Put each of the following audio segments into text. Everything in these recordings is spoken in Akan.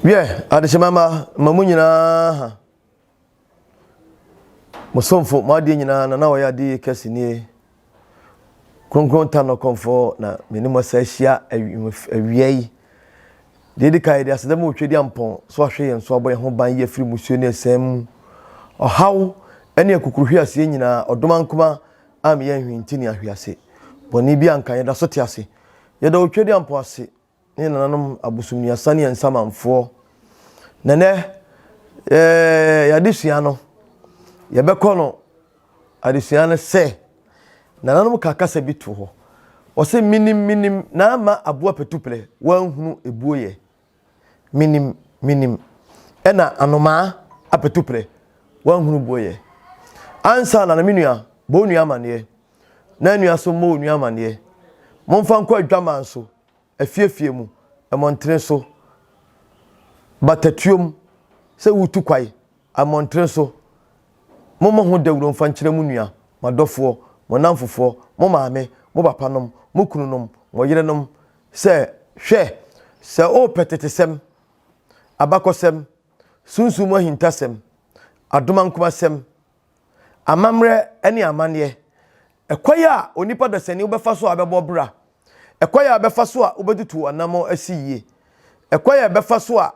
wiɛ adehyema ma ma mu nyinaa ha mo somfo mo adeɛ nyinaa na na ɔyɛ adeɛ kɛse nie kronkron ta no kɔnfɔ na me ne mo asa ahyia awia yi deɛ di kan yɛde aseda mu otwa di ampɔn so ahwɛ yɛn so abɔ yɛn ho ban yi afiri musuo ne ɛsɛn mu ɔhaw ne akukuruhwe aseɛ nyinaa ɔdoma nkoma a meyɛ nhwinti ne ahwease, bɔne bi a anka yɛda so te ase. Yɛda Otwadia mpo ase ne yɛn nananom abosomniasa ne yɛn nsamanfoɔ. Na nɛ, yɛɛ yɛn adesua no, yɛbɛkɔ no adesua no sɛ, nananom ka kasa bi to hɔ. Wɔse, menim, menim, na ama aboa patuplɛ, wanhunu ebuo yɛ. Menim, menim. Ɛna anomaa apatuprɛ, wanhunu boɔyɛ. Ansa na na me nua, bɔ wo nua amaneɛ, na nua nso mmɔ wo nua amaneɛ. Momfa nkɔ adwaman so, afiefie mu, mmɔntene so, batatuom, sɛ woretu kwae, ammɔntene so. Mommɔ ho dawuro mfa nkyerɛ mo nua, mo adɔfoɔ, mo nnamfofoɔ, mo maame, mo papanom, mo kununom, mo yerenom, sɛ, Hwɛ! Sɛ worepɛ tetesɛm, abakɔsɛm, sunsum mu ahintasɛm, adomankomasɛm, amammerɛ ne amanneɛ, ɛkwan a onipa dasani wobɛfa so a wobɛbɔ bra, ɛkwan a wobɛfa so a wobɛtutu w'anammɔn asi yie, ɛkwan a ɛbɛfa so a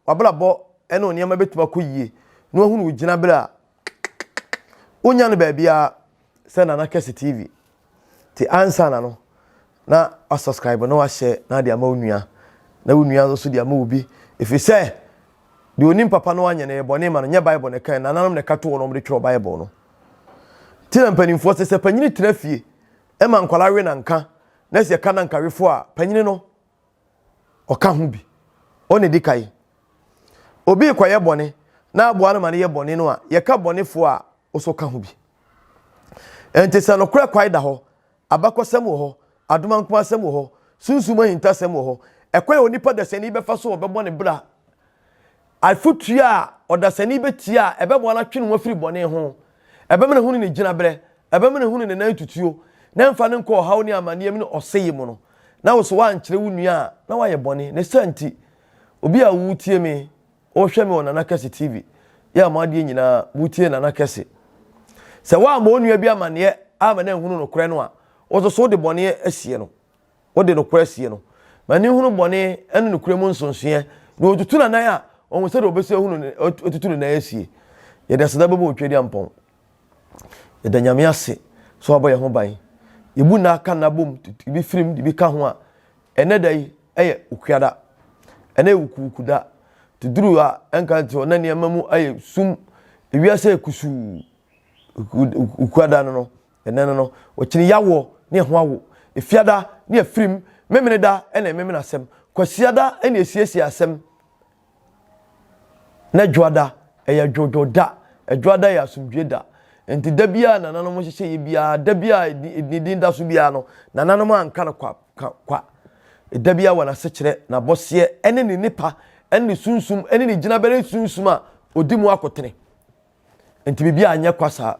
w'abrabɔ ne wo nneɛma bɛtumi akɔ yie na wahunu wo gyinaberɛ a wonya no baabiara sɛ Nana Kɛse TV nti ansa na no na wasubscribe na wahyɛ na ade ama wo nua na wo nua nso de ama obi ɛfiri sɛ deɛ onim papa no anyɛ no yɛ bɔne ma no nyɛ bible na ɛka nananom na ɛka to wɔ na wɔde twerɛ bible no nti na mpanimfoɔ sɛ sɛ panyini tena fie ɛma nkwalaa we na nka na sɛ ɛka na nkawefoɔ a panyini no ɔka ho bi. Ɔno na ɛdi kan. Obi rekɔyɛ bɔne na aboa no ma no yɛ bɔne no a, yɛka bɔnefoɔ a ɔsɛ ɔka ho bi. Enti sɛ nokorɛ kwae da hɔ, abakɔsɛm wɔ hɔ, adomankomasɛm wɔ hɔ, sunsum ahintasɛm wɔ hɔ, ɛkwan a onipa dasani bɛfa so a ɔbɛbɔ ne bra Afotu a ɔdasani betie a ɛbɛboa no atwe ne ho afiri bɔne ho, ɛbɛma no ahunu ne gyinaberɛ, ɛbɛma no ahunu ne nan tutuo, na ɛmfa no nkɔ ɔhaw ne amanneɛm ne ɔsɛeɛ mu no, na wo so woankyerɛ wo nua a na wayɛ bɔne. Ne saa nti, obi a woretie me, worehwɛ me wɔ Nana Kɛse TV, yɛ a mo adeɛ nyinaa motie Nana Kɛse. Sɛ woammɔ wo nua bi amanneɛ amma no anhunu nokorɛ no a, wo nso so wode bɔne asie no. ɔde nokorɛ sie no, ma n'ani nhunu bɔne ne nokorɛ mu nsonsoeɛ, na ɔtutu n'anan a, ɔhu sɛdeɛ ɔbɛsi ahunu ne, ɔtutu ne nan asie. Yɛde aseda bɛbɔ wo Tweaduampɔn. Yɛda Nyame ase sɛ wabɔ yɛn ho ban. Yɛbu nna aka nna bom, de bi firim, de bi ka ho a, ɛnnɛ da yi yɛ Okuada. Ɛnnɛ yɛ wukuwuku da. Te duru a ɛnka nte hɔ, na nneɛma mu ayɛ sum, ewiase ayɛ kusuu, Okuada no no. Ɛnnɛ no no, wɔkyini Yawoɔ ne ɛho awo. Efiada ne afirim, Memeneda na ɛmemene asɛm, Kwasiada na ɛsiesie asɛm, na Dwoada yɛ dwoodwoo da, Dwoada yɛ asomdwoeɛ da. Enti da biara a nananom nhyehyɛeɛ biara, da biara a ne din da so biara no, nananom anka no kwa, ka kwa. Da biara wɔ n'asekyerɛ, n'abɔseɛ ne ne nnepa ne ne sunsum ne ne gyinabereɛ sunsum a ɔdi mu akotene. Enti biribi anyɛ kwa saa.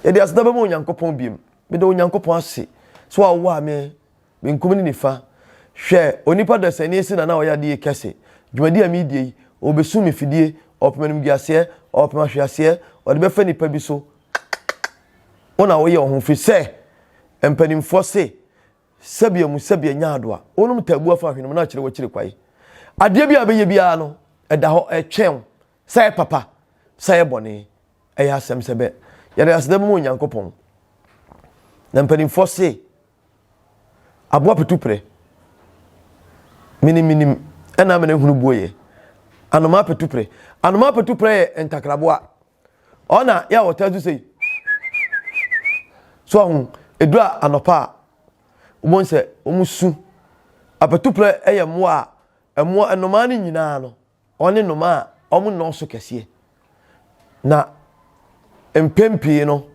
Yɛde aseda bɛma Onyankopɔn biom. Meda Onyankopɔn ase sɛ wawoa me benkum ne nifa. Hwɛ, onipa dasani si na na ɔyɛ adeyɛ kɛse. Dwumadi a meredie yi, ɔrebɛsum me fidie, ɔrepem animguaseɛ, ɔrepem ahweaseɛ, ɔde bɛfa nipa bi so. Wo na woyɛ wo ho, firi sɛ mpanimfoɔ se, Sɛbea mu sɛbea nya ado a, wonom taabua fa hwenem na akyire wakyiri kwae. Adeɛ bi a bɛyɛ biara no, ɛda hɔ, ɛretwɛn wo Sɛ yɛ papa, sɛ yɛ bɔne, ɛyɛ asɛm sɛ bɛ, yɛde aseda bɛma Onyankopɔn. Na mpanimfoɔ se, Aboa petu prɛ, miniminim, ɛna amene hunu buo yɛ. Anomaa petu prɛ. Anomaa petu prɛ yɛ ntakraboa. Ɔna yɛ a ɔtaa su sei. So ahu, ɛduru a anɔpa a, wobɛhu sɛ wɔn su. Apetuprɛ yɛ mmoa a, mmoa, nnomaa no nyinaa no, Wɔne nnomaa a wɔnnɔɔso kɛseɛ, na mpɛn pii no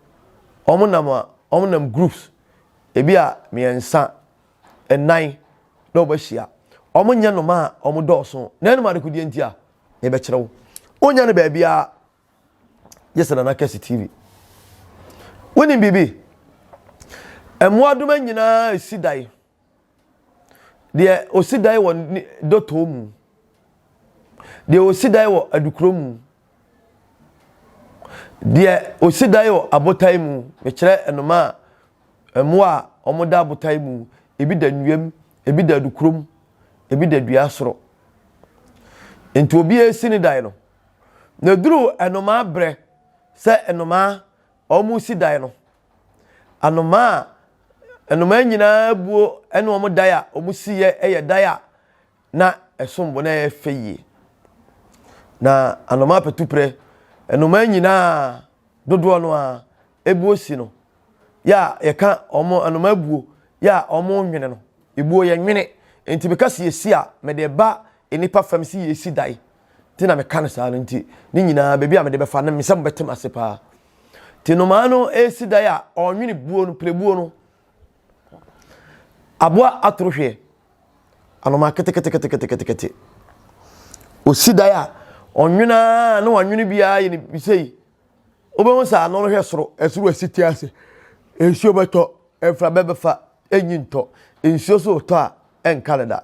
wɔnam a wɔnam groups, ebi a mmiɛnsa, nnan na wɔahyia. Wɔnyɛ nnomaa a wɔdɔɔso, na ɛnam adekodeɛ nti a, mebɛkyerɛ wo. Wonnya no baabiara gye sɛ Nana Kɛse TV. Wonim biribi? Mmoadoma nyinaa si dan. Deɛ ɔsi dan wɔ ne dɔtɔɔ mu. Deɛ ɔsi dan wɔ adukuro mu. Deɛ ɔsi dan wɔ abotan mu. Mekyerɛ nnomaa a, mmoa a wɔda abotan mu. Ebi da nnua mu, ebi da adukuro mu, ebi da dua soro. Nti obiara resi ne dan no. Na ɛduru nnomaa berɛ sɛ nnomaa wɔresi dan no, Anomaa a nnomaa nyinaa buo ne wɔn dan a wɔsiiɛ yɛ dan a na ɛsom bo na ɛyɛ fɛ yie. Na anomaa patuprɛ, nnomaa nyinaa dodoɔ no ara ebuo si no. Yɛ a yɛka wɔn anomaa buo yɛ a wɔnwene no, ebuo yɛnwene. Nti meka sɛ yɛsi a, mede ba nnipa fam sɛ yɛsi dan. Nti na meka no saa no nti, ne nyinaa baabi a mede bɛfa no, mesɛ mobɛte m'ase paa. Nti nnomaa no resi dan a, ɔnwene buo no, pirebuo no. Aboa atoro hweɛ, anomaa keteketeketeketekete. Ɔsi dan a, ɔnwene ara na wanwene biara yɛ ne bisei. Wobɛhu sɛ ano no hwɛ soro, ɛsoro asi te ase. Nsuo bɛtɔ, mframa bɛfa, ɛnyi ntɔ. Nsuo so retɔ a, ɛnka no da.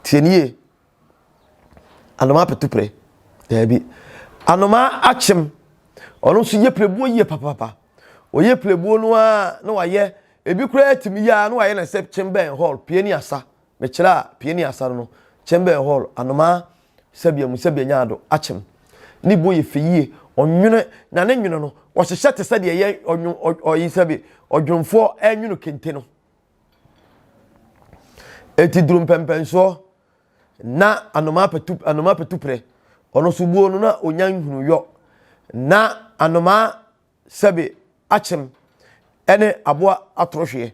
Tie no yie. Anomaa petuprɛ, daabi. Anomaa akyem, ɔno nso yɛ pirebuo yie papapapa. Ɔyɛ pirebuo no ara na wayɛ, ebi koraa tumi yɛ ara na wayɛ no sɛ kyem bɛn hall, pie ne asa. Mekyerɛ a, pie ne asa no no, kyem bɛn hall, anomaa sɛbea mu sɛbea nya ado, akyem. Ne buo yɛ fɛ yie, ɔnwene, na ne nwono no, wɔhyehyɛ te sɛ deɛ yɛ ɔnwo, ɔ, ɔyi sɛbe, ɔdwonfoɔ nwono kente no. Enti duru mpɛmpɛnsoɔ na anomaa pɛtu anomaa pɛtuprɛ ɔno nso buo no na ɔnya nhunu yɔ na anomaa sɛbe akyem ɛne aboa atorɔhweɛ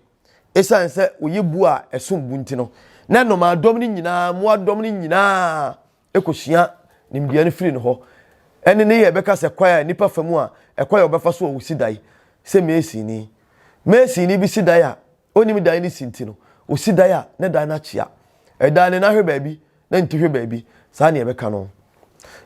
ɛsiane sɛ wɔyɛ buo a ɛsom bu nti no na nnomaa dɔm no nyinaa mmoa dɔm no nyinaa kosua nimdeɛ no firi ne hɔ. Ɛnne ne yɛ bɛka sɛ kwae a nnipa fa mu a ɛkɔ yɛ wɔbɛfa so wɔ wo sidae sɛ masonni. Masonni bi sidae a ɔnnim dan no si nti no, ɔsi dan a ne dan no akyea. Ɛdan no nan hwɛ baabi na ne ti hwɛ baabi, saa na yɛbɛka no.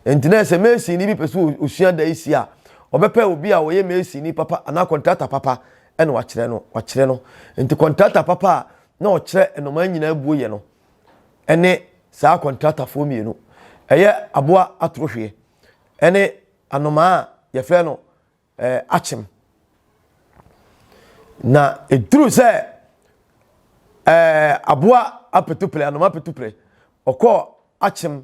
Enti na sɛ masonni bi pɛ sɛ ɔsua dan si a, ɔbɛpɛ obi a ɔyɛ masonni papa anaa kɔntrata papa na wakyerɛ no. Wakyerɛ no. Enti kɔntrata papa a na ɔkyerɛ nnomaa nyinaa buo yɛ no, ne saa kɔntratafoɔ mmienu. Ɛyɛ aboa atorohweɛ ne anomaa a yɛfrɛ no eh, akyem. Na ɛduru sɛ eh, aboa apetupere, anomaa apetupere, ɔkɔɔ akyem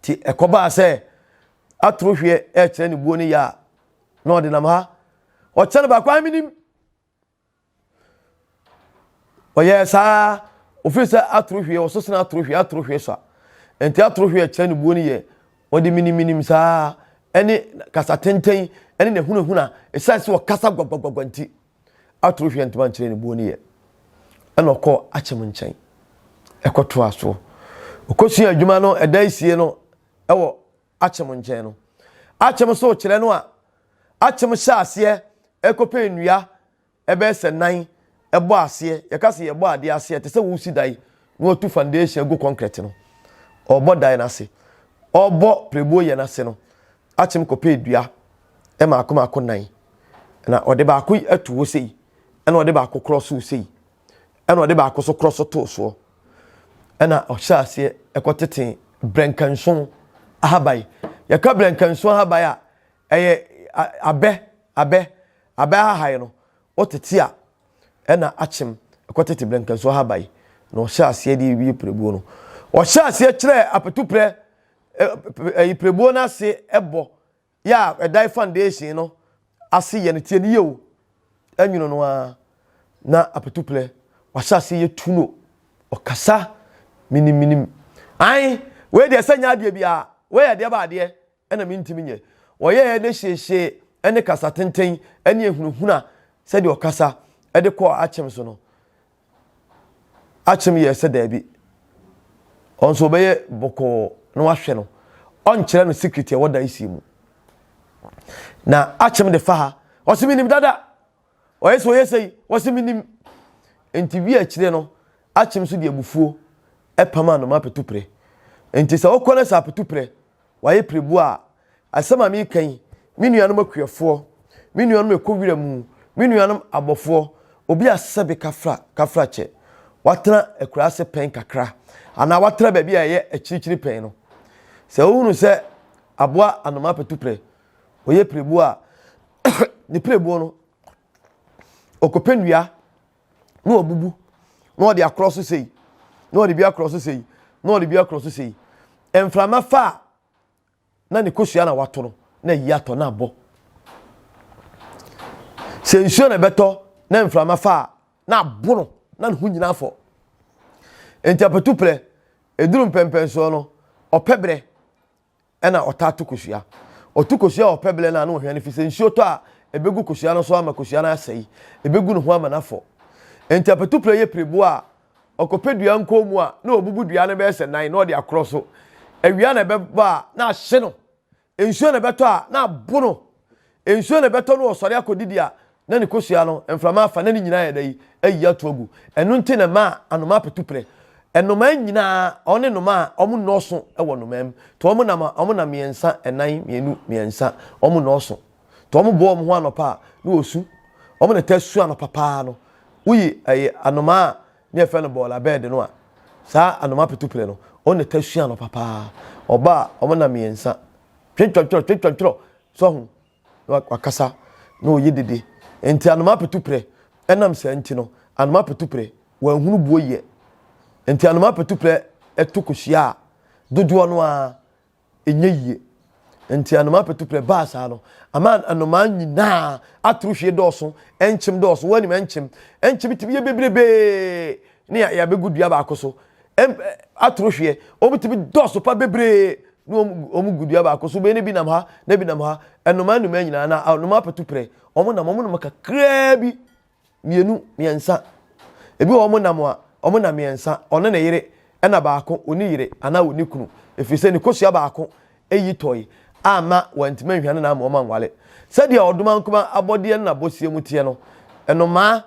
Nti ɛkɔbaa sɛ atoro hweɛ ɛrekyerɛ ne buo ne yɛ a na ɔde nam ha ɔkyɛ no baako menim ɔyɛɛ saa ofiri sɛ atoro hweɛ ɔso sena atoro hweɛ atoro hweɛ so a nti atoro hweɛ kyerɛ ne buo ne yɛ ɔde meniminim saa ɛne kasa tenten ɛne n'ahunahuna ɛsiane sɛ ɔkasa gwagbagwagwa nti atoro hwee antumi ankyerɛ ne buo no yɛ. Ɛna ɔkɔɔ Akyem nkyɛn ɛkɔtoaa soɔ. Ɔkɔsua adwuma no ɛda asie no ɛwɔ Akyem nkyɛn no. Akyem so kyerɛ no a, Akyem hyɛ aseɛ ɛkɔpɛ nnua ɛbɛyɛ sɛ nan ɛbɔ aseɛ. Yɛka sɛ yɛbɔ adeɛ aseɛ a, te sɛ woresi dan na watu foundation agu kɔnkrɛt no. Ɔrebɔ dan no ase. Ɔrebɔ prɛbuo yɛ no ase no, Akyem kɔpɛɛ dua mmaako mmaako nan. Na ɔde baako yi ato hɔ sei, ɛna ɔde baako korɔ so sei, ɛna ɔde baako so korɔ so too soɔ. Ɛna ɔhyɛ aseɛ ɛkɔ tete brɛnkanso ahaban. Yɛka brɛnkanso ahaban a, ɛyɛ abɛ, abɛ, abɛ ahahan no, ɔtete a ɛna akyem ɛkɔ tete brɛnkanso ahaban. Na ɔhyɛ aseɛ de wie pirebuo no. Ɔhyɛ aseɛ kyerɛ apetuprɛ ɛyi pirebuo no ase ɛbɔ. yɛ a ɛdan foundation no ase yɛ no tie no yie o ɛnwono no ara na apatuplɛ wahyɛ ase yɛ tu no ɔkasa minim minim an wei deɛ sɛ nyɛ adeɛ biara wei yɛ deɛ ba adeɛ ɛna mentimi nyɛ wɔyɛɛ ne hyeehyee ɛne kasa tenten ɛne ehunahuna sɛdeɛ ɔkasa ɛde kɔɔ akyem so no Akyem yɛɛ sɛ daabi. Ɔno nso ɔbɛyɛ bɔkɔɔ na wahwɛ no. Ɔnkyerɛ no secret ɛwɔ dan sie mu. Na Akyem de fa ha. Ɔse menim dada. Ɔyɛ sɛ ɔyɛ sɛ yi. Ɔse menim. Nti wi akyire no, Akyem nso de abufuo ɛpam a no ma apɛtuprɛ. Nti sɛ wokɔ no sɛ apɛtuprɛ wayɛ pirebuo a, asɛm a mereka yi, me nuanom akuafoɔ, me nuanom a ɛkɔ wira mu, me nuanom abɔfoɔ, obi a sɛbe kafra kafra kyɛ, watena akuraase pɛn kakra, anaa watena baabi a ɛyɛ akyirikyiri pɛn no, sɛ ɔhunu sɛ aboa anoma apatuprɛ, ɔyɛ pirebuo a, ne pirebuo no, ɔkɔpɛ nnua, na wabubu na ɔde akorɔ so sei na ɔde bi akorɔ so sei na ɔde bi akorɔ so sei mframa fa a na ne kosua na wato no na ayi atɔ na abɔ sɛ nsuo na ɛbɛtɔ na mframa fa a na abo no na ne ho nyinaa fɔ nti apatuprɛ eduru mpɛmpɛnsoɔ no ɔpɛ berɛ na ɔtaa to kosua. Ɔto kosua a ɔpɛ berɛ no a na ɔhwɛ no firi sɛ nsuo tɔ a ɛbɛgu kosua no so ama kosua no asɛe, ɛbɛgu ne ho ama no afɔ. Enti apatupire yɛ pireboɔ a ɔkɔpɛ dua nkɔn mu a na ɔbubu dua no bɛyɛ sɛ nan na ɔde akorɔ so. Awia na ɛbɛba a na ahye no. Nsuo na ɛbɛtɔ a na abo no. Nsuo na ɛbɛtɔ no ɔsɔre akɔdidi a na ne kosua no mframa afa na ne nyinaa ayɛ dɛn ayiyi ato agu. Ɛno nti na ɛma anomaa petu prɛ. Nnomaa nyinaa, wɔne nnomaa a wɔnnɔɔso wɔ nnomaa mu. To wɔn nam a, wɔnam mmiɛnsa, nnan, mmienu, mmiɛnsa. Wɔnnɔɔso. To wɔn boa wɔn ho anɔpa a, na wɔsu. Wɔn na ɛtaa su anɔpa paa no. Woyi ɛyɛ anomaa a Nea yɛfrɛ no bɔɔla bɛɛd no a, saa anomapetuple no, wɔn na ɛtaa sua no papaa. Ɔba a, wɔn nna mmiɛnsa. Twentwɔntwerɔ, twentwɔntwerɔ, so ho, na wakasa, na ɔyɛ dede. Nti anomapetuple, ɛnam saa nti no, anomapetuple, wɔanhunu buo yɛ. Nti anomapetuple to kɔhyia a, dodoɔ no ara, ɛnyɛ yie nti anomaa pɛtuprɛ baa saa no ama anomaa nyinaa atoro hwie dɔɔso ɛnkyem dɔɔso wɔn anim ɛnkyem ɛnkyem tumi yɛ bebrebee ne yɛabɛgu dua baako so atoro hweɛ wɔn tumi dɔɔso pa bebree ne wɔn gu dua baako so bɛyɛ ne bi nam ha ne bi nam ha anomaa nnumaa nyinaa na anomaa pɛtuprɛ wɔn nam wɔn nam kakraa bi mmienu, mmiɛnsa. Ebi wɔ hɔ wɔn nam a, wɔn nam mmiɛnsa. Ɔne ne yere, ɛna baako, ɔnni yere anaa ɔnni kunu. Ɛfiri sɛ ne kosua baako yi tɔe amma wɔantumi anhwane no amma wɔanware. Sɛdeɛ ɔdomankoma abɔdeɛ no n'abɔseɛ mu teɛ no, nnomaa,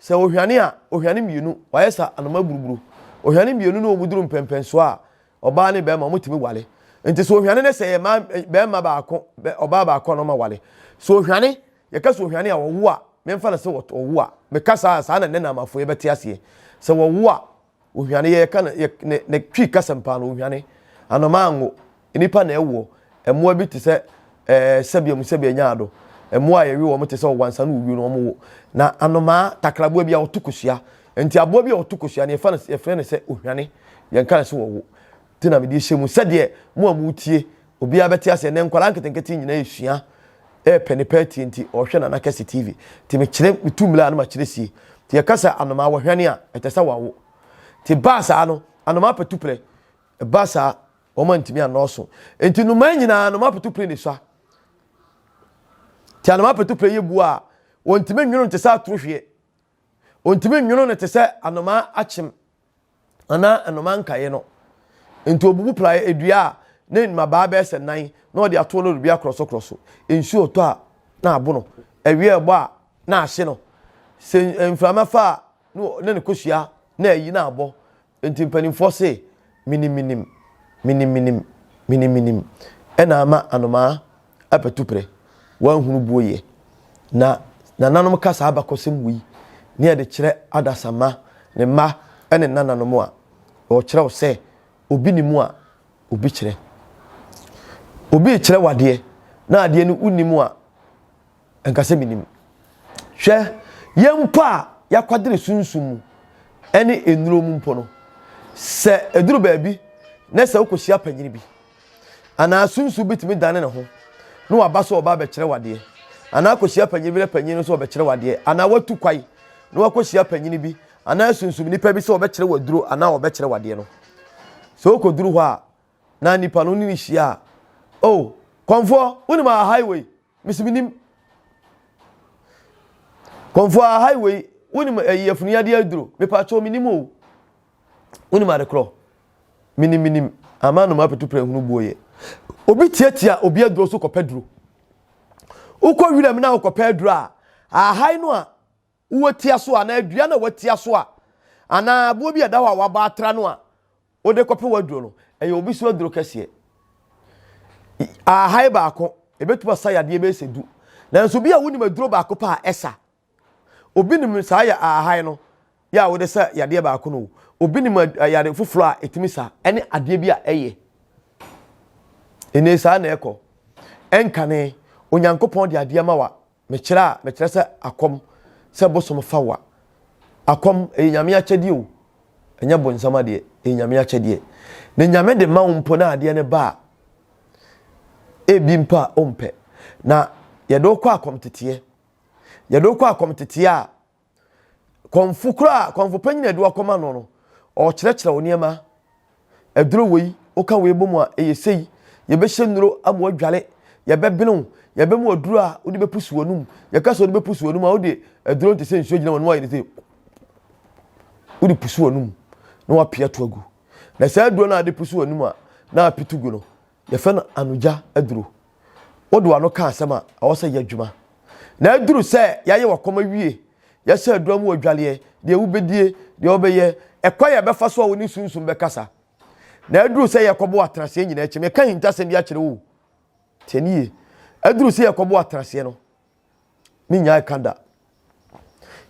sɛ ɔhwane a, ɔhwane mmienu, wɔayɛ sɛ anoma buruburo. Ɔhwane mmienu ne wɔduru mpɛnpɛnsoɔ a, ɔbaa ne barima, wɔtumi ware. Nti sɛ ɔhwane ne sɛ ɛyɛ mmaa, barima baako, ɔbaa baako a na wɔaware. Sɛ ɔhwane Yɛka sɛ ohwane a, wɔwo a, memfa no sɛ wɔwo a. Meka saa a, saa na nnɛ Naamafoyɛ bɛte aseɛ. Sɛ wɔwo a, ohwane, yɛka no, yɛ, ne, ne Twi kasam paa no, ohwane. Anomaa anwo. Nnipa na ɛwoɔ. Mmoa bi te sɛ, ɛɛ, sɛbea mu sɛbea nyaado. Mmoa a yɛwe wɔn te sɛ ɔwansa ne owuo no, wɔwo. Na anomaa, takraboa bi a ɔto kosua. Enti aboa bi a ɔto kosua no, yɛfa no, yɛfrɛ no sɛ ohwane. Yɛnka no sɛ wɔwo. Nti na mede ahyɛ mu. Sɛdeɛ mo a moretie Obiara bɛte aseɛ. Nnɛ nkwadaa nketenkete nyinaa resua repɛ ne pɛ atie nti ɔhwɛ Nana Kɛse TV. Nti mekyerɛ metu mmira a na makyerɛ sie. Nti yɛka sɛ anomaa wɔhwane a ɛtɛ sɛ wɔawo. Nti ɛbaa saa no anomaa patuprɛ ɛbaa saa wɔn antumi annɔɔso. Nti nnomaa nyinaa anomaa patuprɛ na ɛsua. Nti anomaa patuprɛ yɛ buo a wɔntumi nwono no te sɛ atorohweɛ. Wɔntumi nwono no te sɛ anomaa akyem anaa nnoma nkaeɛ no. Enti ɔbubu praeɛ dua a ne mmabaa bɛyɛ sɛ nan na ɔde ato no dibea korɔsokorɔso. Nsuo retɔ a, na abo no. Awia rebɔ a, na ahye no. Sɛ mframa fa a, na ne kosua na ayi na abɔ. Enti mpanimfoɔ se, Miniminim, miniminim, miniminim na ama anomaa. apatuprɛ, wɔanhunu booyɛ. Na nananom ka saa abakɔsɛm wei ne yɛde kyerɛ adasamma, ne mma ne nnananom a wɔkyerɛw sɛ obi nim a obi kyerɛ. Obi rekyerɛ wo adeɛ na adeɛ no wonim a, Ɛnka sɛ menim. Hwɛ, yɛn mpo a yɛakwadene sunsum mu ne nnuro mu mpo no, sɛ ɛduru baabi na sɛ wokɔhyia panyin bi anaa sunsum bi tumi dane ne ho na waba sɛ ɔba abɛkyerɛ wadeɛ anaa akɔhyia panyin bi na panyin no sɛ ɔbɛkyerɛ wadeɛ anaa watu kwae na wakɔhyia panyin bi anaa sunsum nipa bi sɛ ɔbɛkyerɛ waduro anaa ɔbɛkyerɛ wadeɛ no sɛ wokɔduru hɔ a na nipa no ne ne hyia a oh kɔmfoɔ wonim a highway Mese menim. Kɔmfoa highway wonim ɛyi eh, afunu yadeɛ aduro mepatwɔ menim o wonim adekorɔ menim menim ama nom apetu prɛ hunu buo yɛ obi tiatia obi aduro so kɔpɛ duro wokɔ wiram na wokɔpɛ aduro a ahai no a Wowɔ tia so anaa dua no a wɔatia so a, anaa aboɔ bi a ɛda hɔ a wɔabɔ atra no a wode kɔpem aduro no, ɛyɛ obi so aduro kɛseɛ. Ahae baako, ɛbɛtumi asa yadeɛ bɛyɛ sɛ du. Nanso bi a wonim aduro baako pɛ a ɛsa. Obi nim saa yɛ ahae no yɛ a wode sa yadeɛ baako no o. Obi nim yare foforɔ a ɛtumi sa ɛne adeɛ bi a ɛyɛ. Ɛnee saa na ɛkɔ. Ɛnkane, Onyankopɔn de adeɛ ma wa mekyerɛ a mekyerɛ sɛ akɔm sɛ bosom fa wa akɔm ɛyɛ nyame akyɛdeɛ o ɛnyɛ bonsam adeɛ ɛyɛ nyame akyɛdeɛ na nyame de ma wo mpo na adeɛ no ba a ebi mpo a ɔmpɛ na yɛde wokɔ akɔm teteɛ yɛde wokɔ akɔm teteɛ a Kɔmfo kura a kɔmfo panyin a ɛde wakɔma no no, ɔrekyerɛkyerɛ wo nneɛma. Aduro wei, woka wei bɔ mu a, ɛyɛ sei. Yɛbɛhyɛ nnuro ama wadware. Yɛbɛbene wo. Yɛbɛma aduro a wode bɛpusu w'anum. Yɛka sɛ wode bɛpusu w'anum a, wode aduro no te sɛ nsuo gyina w'anum ayɛ ne sɛ wode pusu w'anum na wapia to agu. Na saa aduro no a wode pusu w'anum a na apitu gu no, yɛfrɛ no anogya aduro. Wode w'ano ka asɛm a, ɛwɔ sɛ yɛ adwuma. Na aduru sɛ yɛayɛ w'akɔm awie, yɛhyɛ aduro mu adwaleɛ, deɛ wobɛdie, deɛ wobɛyɛ, ɛkwan a ɛbɛfa so a wo ne sunsum bɛkasa. Na aduru sɛ yɛkɔbɔ atenaseɛ nyinaa akyi, meka ahintasɛm bi akyerɛ wo o. Tie ne yie. Aduru sɛ yɛkɔbɔ atenaseɛ no, me nyaa ɛka da.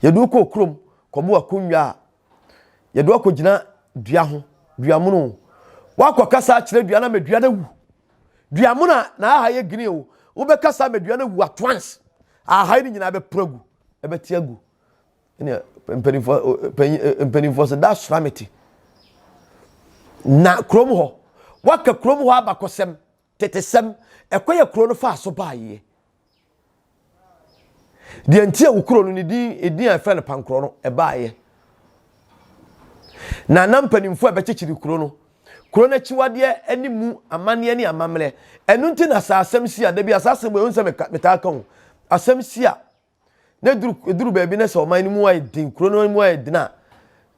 Yɛde wo kɔɔ kurom kɔbo akonnwa a yɛde wakɔgyina dua ho, dua mono o. Woakɔkasa akyerɛ dua no ama dua no awu. Dua mono a na aha yɛ green o, wobɛkasa ama dua no awu at once. Aha no nyinaa bɛporo agu, ɛbɛte agu. Ɛnna mpanimfoɔ panyin mpanimfoɔ sɛ da sora me te. Na kurom hɔ, woaka kurom hɔ abakɔsɛm Tetesɛm, Ɛkwan a kuro no faa so baeɛ. Deɛ nti a wo kuro no ne din edin a ɛfrɛ no Pankorɔ no ɛbaeɛ. Na na mpanimfoɔ a ɛbɛkyekyere kuro no, kuro no akyiwadeɛ ne mu amanneɛ ne amammerɛ. Ɛno nti na saa asɛm si a, da bi a saa asɛm wei wohu sɛ metaa ka o, asɛm si a na ɛduru ɛduru baabi na sɛ ɔman no mu ayɛ den kuro no mu ayɛ den a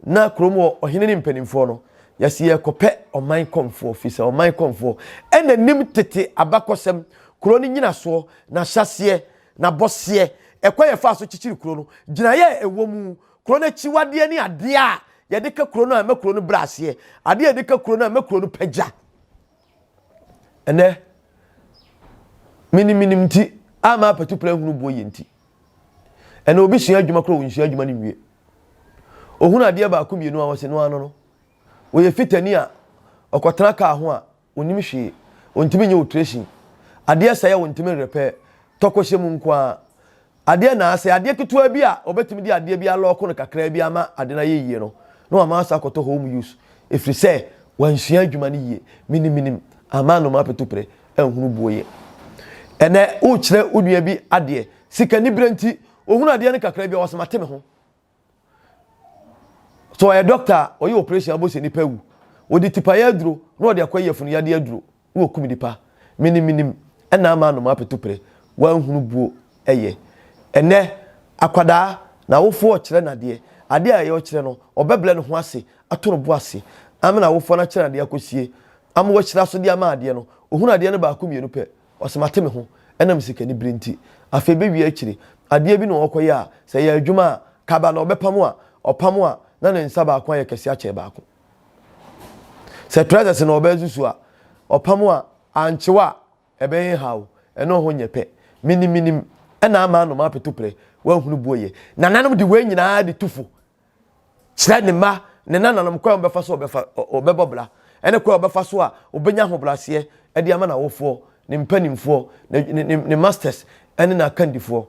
na kurom wɔ ɔhene ne mpanimfoɔ no yɛsi yɛkɔpɛ ɔman kɔnfoɔ fi sɛ ɔman kɔnfoɔ ɛna nim tete abakɔsɛm kuro no nyinasoɔ n'ahyɛseɛ n'abɔseɛ ɛkwa yɛ faa so kyikyiri kuro no gyinaeɛ a ɛwɔ mu kuro no akyiwadeɛ ne adeɛ a yɛde ka kuro no a ɛma kuro no brɛ aseɛ adeɛ a yɛde ka kuro no a ɛma kuro no pagya Ɛnɛ, miniminim nti a m'apatu pere hunu boɔ yie nti, ɛnɛ obi sua adwuma koraa ɔnsua adwuma no nwie. Ɔhunu adeɛ baako mmienu a ɔse no ano no. Ɔyɛ fitani a ɔkɔtena kaa ho a ɔnnim hwee, ɔntumi nyɛ ɔtresin. Adeɛ sɛe a ɔntumi nrepɛɛ, tɔkɔhyɛ mu nko ara. Adeɛ anaa sɛ adeɛ ketewa bi a wɔbɛtumi de adeɛ bi alɔɔko no kakraa bi ama ade no ayɛ yie no, na wɔama asɔ akɔtɔ home use ɛfiri sɛ wansua adwuma no yie. Menim, menim, amaa nomapeto pere anhunu buo yɛ. Ɛnnɛ worekyerɛ wo nua bi adeɛ, sikaniberɛ nti, ɔhunu adeɛ no kakraa bi a, ɔse mate me ho. sɛ ɔyɛ dɔkta a ɔyɛ operation abɔ sɛ nipa wu wɔde tipayɛ aduro na wɔde akɔ yɛ funu yadeɛ aduro na wɔkum nipa menim menim ɛna ama anom apeto pere wanhunu buo ɛyɛ ɛnɛ akwadaa na awofoɔ ɔkyerɛ nadeɛ adeɛ a ɛyɛ ɔkyerɛ no ɔbɛbrɛ ne ho ase ato no bo ase ama na awofoɔ no akyerɛ nadeɛ akɔsie ama wɔahyira so de ama adeɛ no ɔhunu adeɛ no baako mmienu pɛ Ɔse mate me ho ɛnam sikanibere nti. Afei bɛwie akyire adeɛ bi na ɔɔkɔyɛ a sɛ ɛyɛ adwuma a kaba na ɔbɛpam a ɔpam a na ne nsa baako ayɛ kɛse akyɛn baako. Sɛ trousers na ɔbɛsusu a ɔpam a ankyew a ɛbɛyɛ he haw ɛno ho nyɛ pɛ. Menim menim ɛna ama anoma apetoprɛ woanhunu boɔ yɛ. Nananom de wei nyinaa de tu fo Kyerɛ ne mma ne nananom kwan a wɔbɛfa so wɔbɛbɔ bra ne kwan a wɔbɛfa so a wɔbɛnya ahobrɛaseɛ de ama n'awofoɔ, ne mpanimfoɔ, ne masters ne n'akandifoɔ.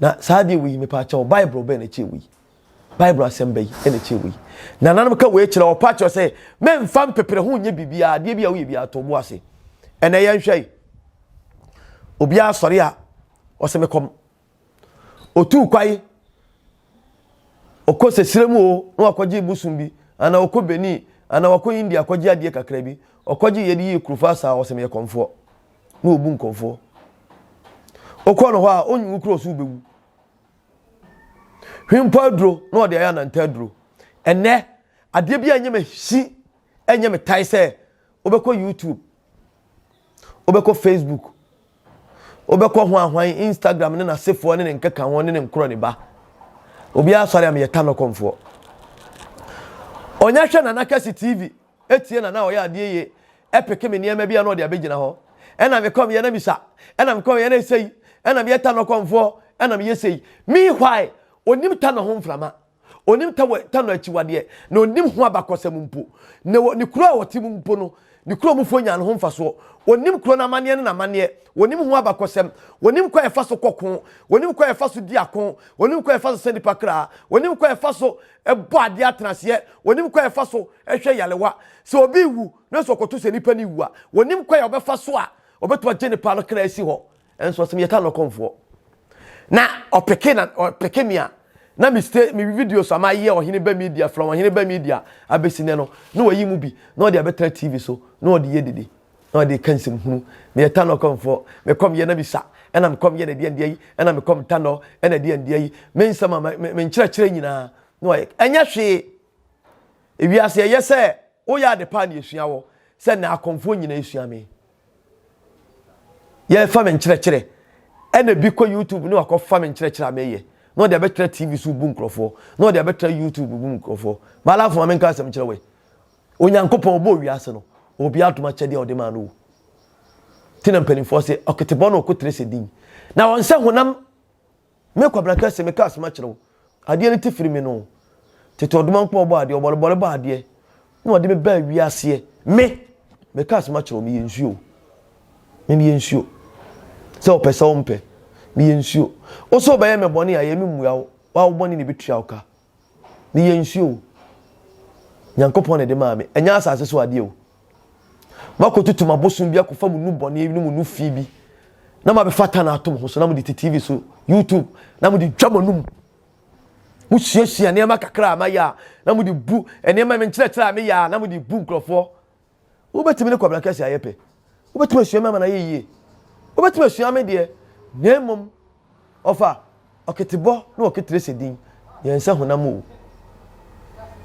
Na saa adeɛ wei, mepɛ akyɛ wo, Bible bɛn na kyerɛ wei? Bible asɛm bɛyi na kyerɛ wei. Nananom ka wei kyerɛ wɔpa kyerɛ sɛ memfa mpepere ho nyɛ biribiara, adeɛ bi a woyɛ biara to bo ase. Ɛnɛ yɛnhwɛ yi. Obiara sɔre a ɔsɛ mekɔ Otuu kwae, ɔkɔ sɛsirɛ mu o, na wakɔgye bosom bi, anaa ɔkɔ Benin, anaa wakɔ India kɔgye adeɛ kakra bi, ɔkɔgye yɛde yii kurofaa saa, ɔsɛ meyɛ kɔmfoɔ, na ɔbu nkɔmfoɔ. Wokɔ no hɔ a, ɔnyi wo korɔ so wobɛwu. Hwempɔ aduro na ɔde ayɛ ananta aduro. Ɛnɛ, adeɛ bi a ɛnyɛ me hyi, ɛnyɛ me tae sɛ wobɛkɔ YouTube, wobɛkɔ Facebook, Wobɛkɔ hwanhwan Instagram ne n'asefoɔ ne ne nkeka ho ne ne nkorɔ ne ba. Obiara sɔre a meyɛ Tanokɔmfoɔ. Ɔnya hwɛ Nana Kɛse TV tie Nana a ɔyɛ adeɛ yie ɛpeke me nneɛma bi a na ɔde abɛgyina hɔ. Ɛna mekɔ meyɛ na misa. Ɛna mekɔ meyɛ na ɛsei. Ɛna meyɛ Tanokɔmfoɔ ɛna meyɛ sei. Meanwhile ɔnim Tano ho mframa. Ɔnim ta wɔ ta no akyiwadeɛ, na ɔnim ho abakɔsɛm mpo. Na wɔ ne kuro a ɔte mu mpo no, ne kuro mufoɔ nya ne ho mfasoɔ. Ɔnim kuro no amanneɛ ne n'amanneɛ. Ɔnim ho abakɔsɛm. Ɔnim kwan a ɛfa so kɔ ko. Ɔnim kwan a ɛfa so di ako. Ɔnim kwan a ɛfa so sa nnipa kra. Ɔnim kwan a ɛfa so bɔ adeɛ atenaseɛ. Ɔnim kwan a ɛfa so hwɛ yarewa. Sɛ obi rewu, nanso ɔkɔto sɛ nnipa no rewu a, ɔnim kwan a ɔbɛfa so a ɔbɛtumi agye ne paa no kra asi hɔ. Nso ɔsɛ me yɛ Tanokon foɔ. Na ɔpeke na ɔpeke me a na me stay me video so ama yɛ ɔhene ba media from ɔhene ba media abɛsi nɛ no na wayi mu bi na ɔde abɛtena TV so na ɔde yɛ dede na ɔde ka nsɛm hunu. Me yɛ Tanokon foɔ. Me kɔm yɛ na me sa ɛna me kɔm yɛ na ɛdeɛ ndeɛ yi ɛna me kɔm tanɔ ɛna ɛdeɛ ndeɛ yi me nsɛm a me me nkyerɛkyerɛ nyinaa na wayɛ ɛnyɛ hwee. Ewiase ɛyɛ sɛ woyɛ ade paa na yɛsua wɔ sɛ na akonfoɔ nyinaa sua me. yɛrefa me nkyerɛkyerɛ ɛna bi kɔ youtube na wakɔfa me nkyerɛkyerɛ a meyɛ na ɔde abɛtra tv so bu nkurɔfoɔ na ɔde abɛtra youtube bu nkurɔfoɔ malafo ma menka asɛm kyerɛ wei onyankopɔn ɔbɔɔ wiase no ɔwɔ bi adom akyɛdeɛ a ɔde maa no o nti na mpanimfoɔ se ɔketebɔ na ɔkotere sɛ din na wɔn sɛ honam Me Kwabena kɛse, me ka asem akyerɛ wo, adeɛ no te firi me no, tete ɔdomankpɔ ɔbɔ adeɛ, ɔbɔrebɔre bɔ adeɛ, na ɔde me baa wiaseɛ, me, me ka asem akyerɛ wo, meyɛ nsuo, me meyɛ nsuo, sɛ ɔpɛ sɛ ɔmpɛ, meyɛ nsuo, wo sɛ ɔbɛyɛ me bɔne a, yɛ me mmua wo, wo a wo bɔne na ɛbɛtua wo ka. ne yɛ nsuo o nyankopɔn na ɛde maa me ɛnyɛ asase so adeɛ o makɔtutum abosom bi akɔfa mu nu bɔne ne mu nu fi bi na mabɛfa ta no atom ho so na mode te tv so youtube na mode twa mo anum mosuasua nneɛma kakra a mayɛ a na mode bu nneɛma menkyerɛkyerɛ a meyɛ a na mode bu nkurɔfoɔ Wobɛtumi ne Kwabena Kɛse ayɛ pɛ. Wobɛtumi asua me ama no ayɛ yie. Wobɛtumi asua me deɛ, na mmom ɔfa ɔketebɔ ne ɔketere sɛ din, yɛn nsa honam o.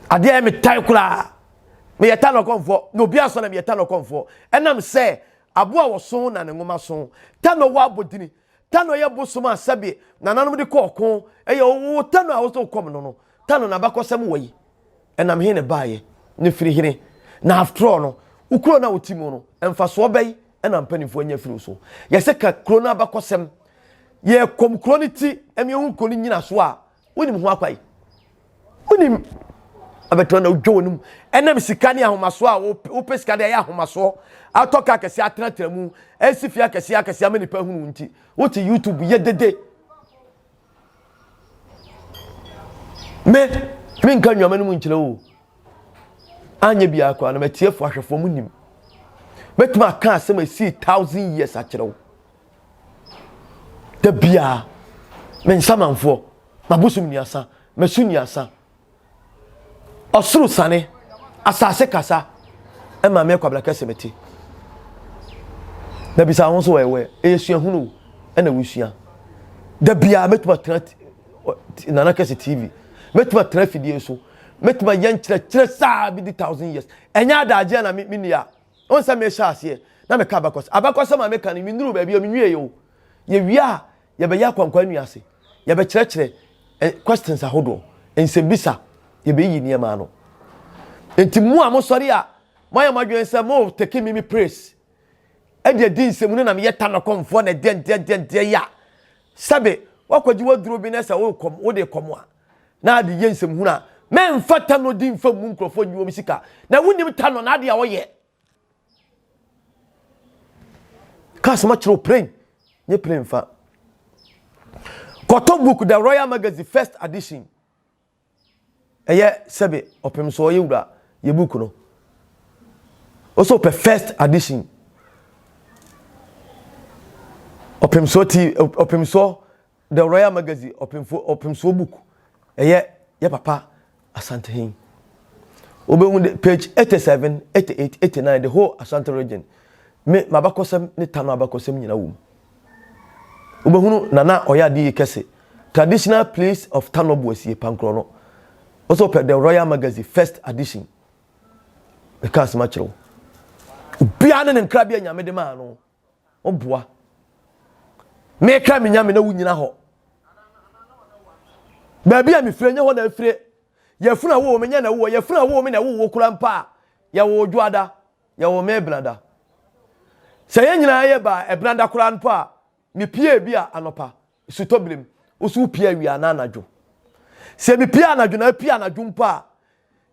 Adeɛ a ɛyɛ me tan koraa, meyɛ Tano Kɔmfoɔ, na obi ansɔ na meyɛ Tano Kɔmfoɔ, ɛnam sɛ aboa a wɔso na ne nwoma so. Tano wɔ abodini, Tano yɛ bosom a sɛbe nananom de kɔ ɔko, ɛyɛ ɔwoo Tano a wose wokɔm no no, Tano nabakɔsɛm wɔ yi, ɛnam he ne baeɛ, ne firi hene, na after all no wo kuro no a wote mu no mfasoɔ bɛn na mpaninfoɔ anya afiri wo so? Yɛse ka kuro no abakɔsɛm, yɛkɔm kuro no ti, ɛne ɛho kuro no nyinasoɔ a wonim ho akwan wonim abɛtɔ na wodwa wɔn mu ɛnam sika ne ahomasoɔ a wopɛ sika de ayɛ ahomasoɔ atɔ ka akɛseɛ atenatena mu asi fie akɛseɛ akɛseɛ ama nipa hunu nti wote youtube yɛ dede me menka nnwama no mu nkyerɛ o anyɛ biara koraa na matiefoɔ ahwɛfoɔ mu nim mɛtumi aka asɛm a ɛsii thousand years akyerɛ wo da biara me nsamanfoɔ mabosom nnuasa masu nnuasa ɔsoro sane asase kasa ɛma me kwabra kɛse mete na bisa ho so wɔyɛwɛ ɛyɛ suahunu ɛna wosua da biara mɛtumi atena nana kɛse tv mɛtumi atena afidie so mɛtumi ayɛ nkyerɛkyerɛ saa bi di thousand years ɛnyɛ adagyeɛ na menni a Wohu sɛ mehyɛ aseɛ na meka abakɔsɛm. Abakɔsɛm a meka no, mennuruu baabi a menwieeɛ o. Yɛwie a, yɛbɛyɛ akwankwan nnua ase. Yɛbɛkyerɛkyerɛ ɛ, questions ahodoɔ, nsɛmmisa. Yɛbɛyiyi nneɛma ano. Enti mo a mosɔre a moayɛ mo adwene sɛ mo take me me praise de adi nsɛm no na meyɛ tanɔkɔmfoɔ na ɛdeɛndeɛndeɛndeɛn a, sɛbe woakɔgye w'aduro bi na sɛ worekɔm, wode rekɔm a, na ade yɛ nsɛmhunu a, mɛmfa Tanɔ din mfa mmu nkurɔfoɔ nnyi wɔn sika. Na wonnim Tanɔ n'adeɛ a ɔyɛ. Ka asɛm akyerɛ wo plane, nye plane fa. Kɔtɔ book The Royal Magazine First Edition. Ɛyɛ sɛbe ɔpem so ɔyɛ wura yɛ book no. Ɔsɛ ɔpɛ first edition. Ɔpem so ti ɔpem so The Royal Magazine Ɔpemfo Ɔpemsoɔ Book ɛyɛ yɛ papa Asantehin wobɛhu de page 87, 88, 89 the whole Asante region me m'abakɔsɛm ne Tano abakɔsɛm nyina wɔ mu wobɛhunu Nana ɔyɛ ade yi kɛse traditional place of Tano Boasie Pankorɔ no wo sɛ wopɛ The Royal Magazine first edition meka asɛm akyerɛ wo obiara ne ne nkrabea nyame de maa no O boa me kra me nyame na wonyina hɔ Baabi a mefire nyɛ hɔ na afire Yɛfunu a wowɔ me nyɛ na wowɔ Yɛfunu a wowɔ me na wowɔ kura mpa a Yɛwɔ odwoada Yɛwɔ me benada Sɛ yɛn nyinaa yɛ baa ɛbenada koraa mpo a Mepie ebi a anɔpa Sutɔbilem wo so wopie awia anaa anadwo Sɛ mepie anadwo na apue anadwo mpo a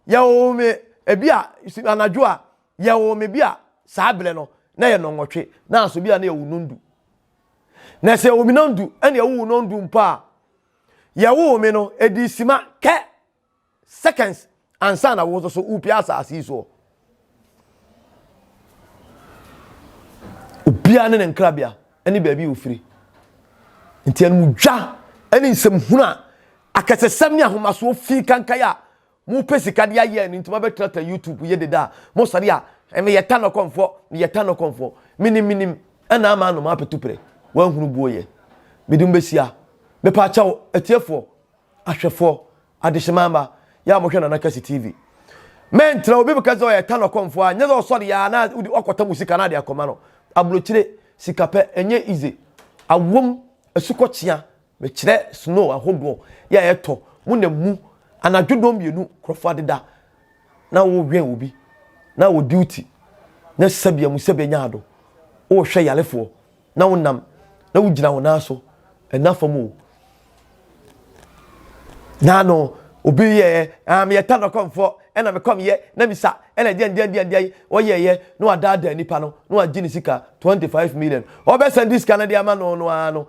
Yɛwɔ me ebi a anadwo a Yɛwoo me bi a saa berɛ no na yɛ nnɔnwɔtwe naaso bi a na yɛwo nnɔndu. Na sɛ yɛwo me nnɔndu ɛne ɛwowo nnɔndu mpo a, yɛwoo me no ɛdii sima kɛ seconds ansa na wo nso so wopie asaase yi soɔ. Obiara ne ne nkrabea ɛne baabi a ofiri. Nti animdwa ɛne nsɛmhunu a akɛsesɛm ne ahomasoɔ fii kankan a Mo pɛ sika de ayɛ ɛno nti mo abɛ trata YouTube yɛ deda a mo sɔre a me yɛ ta nɔkɔn foɔ me yɛ ta nɔkɔn foɔ me nim me nim ɛna ama anom apɛ tu prɛ wɔn hunu buo yɛ me de mo bɛ hyia me pa kyɛw atie foɔ ahwɛ foɔ adehyemaa mma yɛ a mo hwɛ Nana Kɛse TV mɛ ntra obi bɛka sɛ ɔyɛ ta nɔkɔn foɔ a nyɛ sɛ ɔsɔre yɛ a na odi ɔkɔ ta mo sika na ade akɔma no abrokyire sika pɛ ɛnyɛ ize awom asukɔ kyea Mekyerɛ snow ahodoɔ yi a ɛtɔ mo na mu anadwo dɔn mmienu nkurɔfoɔ adeda na wɔrewɛn obi na wɔ duty na sɛbea mu sɛbea nya ado wɔrehwɛ yarefoɔ na wonam na wogyina wo nan so ɛna fam o na no obi yɛ ah meyɛ tano kɔmfoɔ ɛna mekɔmyɛ na misa ɛna deɛ deɛ deɛ deɛ wɔyɛɛyɛ na wadaadaa nipa no na wagye ne sika 25 million ɔbɛsɛn de sika no de ama no no ara no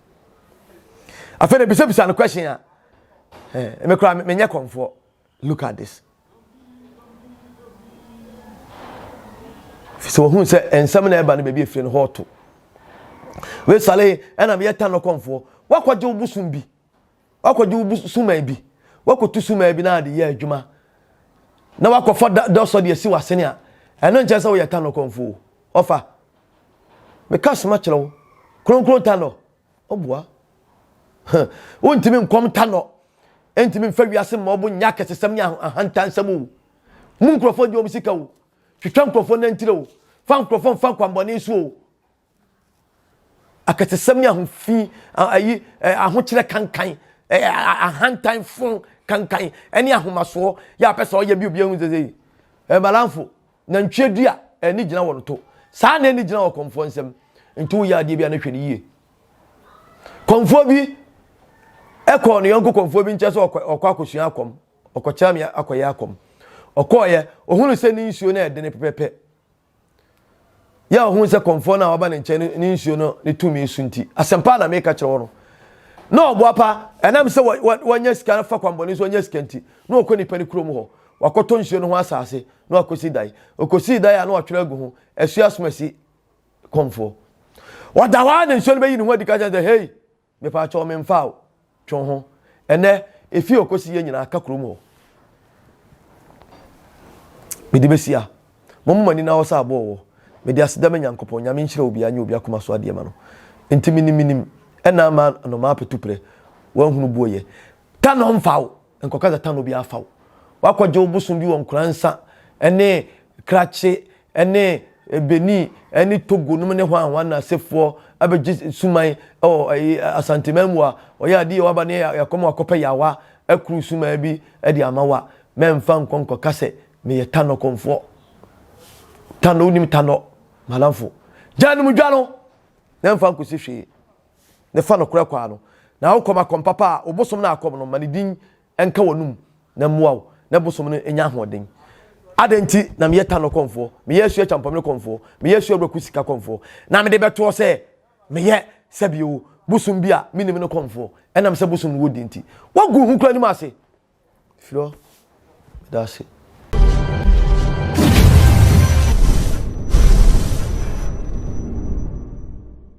afei na ebisabisa no question a eh, me kora menyɛ kɔnfoɔ look at this sɛ wɔhunu sɛ nsɛm na ɛba no baabi efiri no hɔ to wesale ɛna meyɛ tan no kɔnfoɔ wakɔgye wo bosom bi wakɔgye wo suman bi wakɔtu suman bi na ade yɛ adwuma na wakɔfa dɔsɔ de asi w'asene a ɛno nkyɛn sɛ woyɛ tanɔ kɔmfo ɔfa meka soma kyerɛ wo kronkron tanɔ ɔboa wontumi nkɔm tanɔ ɛntumi mfa wiase mma ɔbo nyɛ akɛsesɛm ne ahantansɛm o mu nkurɔfoɔ gye wɔn sika o twitwa nkurɔfoɔ nantire o fa nkurɔfoɔ mfa nkwambɔne so o Akatesɛm ne ahofi, ayi, ahokyerɛ kankan, ahantan fon kankan, ɛne ahomasoɔ yɛ apɛ sɛ ɔyɛ bi obi ehu sese yi. Ɛmalanfo, nantwie dua, ɛni gyina wɔn to. Saa na ɛni gyina wɔ kɔnfoɔ nsam. Nti woyɛ adeɛ bi a ne hwɛ ne yie. Kɔnfoɔ bi ɛkɔɔ ne yɔnko kɔnfoɔ bi nkyɛn sɛ ɔkɔ ɔkɔ akɔsua akɔm, ɔkɔkyerɛ me akɔyɛ akɔm. Ɔkɔɔyɛ, ohunu sɛ ne nsuo no ɛdene pɛpɛpɛ. Yɛ a ɔhuu sɛ kɔmfoɔ no a waba ne nkyɛn no ne nsuo no ne tumi so nti, asɛmpa a na meka kyerɛ wo no, na ɔboa pa. Ɛnam sɛ wanya sika afa kwammɔne so anya sika nti, na ɔkɔ nnipa no kurom hɔ. Wakɔtɔ nsuo no ho asase na wakɔsi dan. Ɔkɔsii dan a na watwerɛ agu ho, Asuasomasi kɔmfoɔ. Ɔda hɔ ara na nsuo no bɛyi ne ho adi ka kyerɛ no sɛ, Hei! Mepaatwɔ menfa wo two ho. Ɛnɛ efie okosi yɛn nyinaa ka kurom hɔ mede besia mo mo m'ani na hɔ sɛ aboɔ wɔ mede aseda me Nyankopɔn Nyame nhyira obia nyɛ obi akoma so adeɛ ma no nti menim menim ɛnaa ma anomaa petuprɛ wanhunu buo yɛ ta no mfa wo Nkɔka dza tan obiara fa wo. Wɔakɔgye wo bosom bi wɔ Nkoransa ne Krache ne Benin ne Togo nom ne hɔn a hɔn asefoɔ abɛgye suman wɔ Asanteman mu a, ɔyɛ ade yie a wɔaba ne yɛakɔ ma wɔakɔpɛ yaawa akuru suman bi de ama wo a, mɛmfa nkɔ nkɔka sɛ meyɛ Tanɔ kɔmfoɔ. Tanɔ, wonim Tanɔ? Malamfo. Gyaa nom dwa no na mfa nkɔsi hwee. ne fa nokorɛ kwan no, na wokɔ ma kɔm papa a, wo bosom no a kɔm no ma ne din nka w'anom na mmoa wo na bosom no nya ahoɔden. Adɛn nti na meyɛ Tano kɔmfoɔ, meyɛ Asuo Achampɔmene kɔmfoɔ, meyɛ Asuo Abraku Sika kɔmfoɔ, na mede bɛtoɔ sɛ meyɛ Sɛbio, bosom bi a mennim no kɔmfoɔ, ɛnam sɛ bosom no wɔ din nti? Woagu wo ho kura anim ase? Firi hɔ. Meda ase.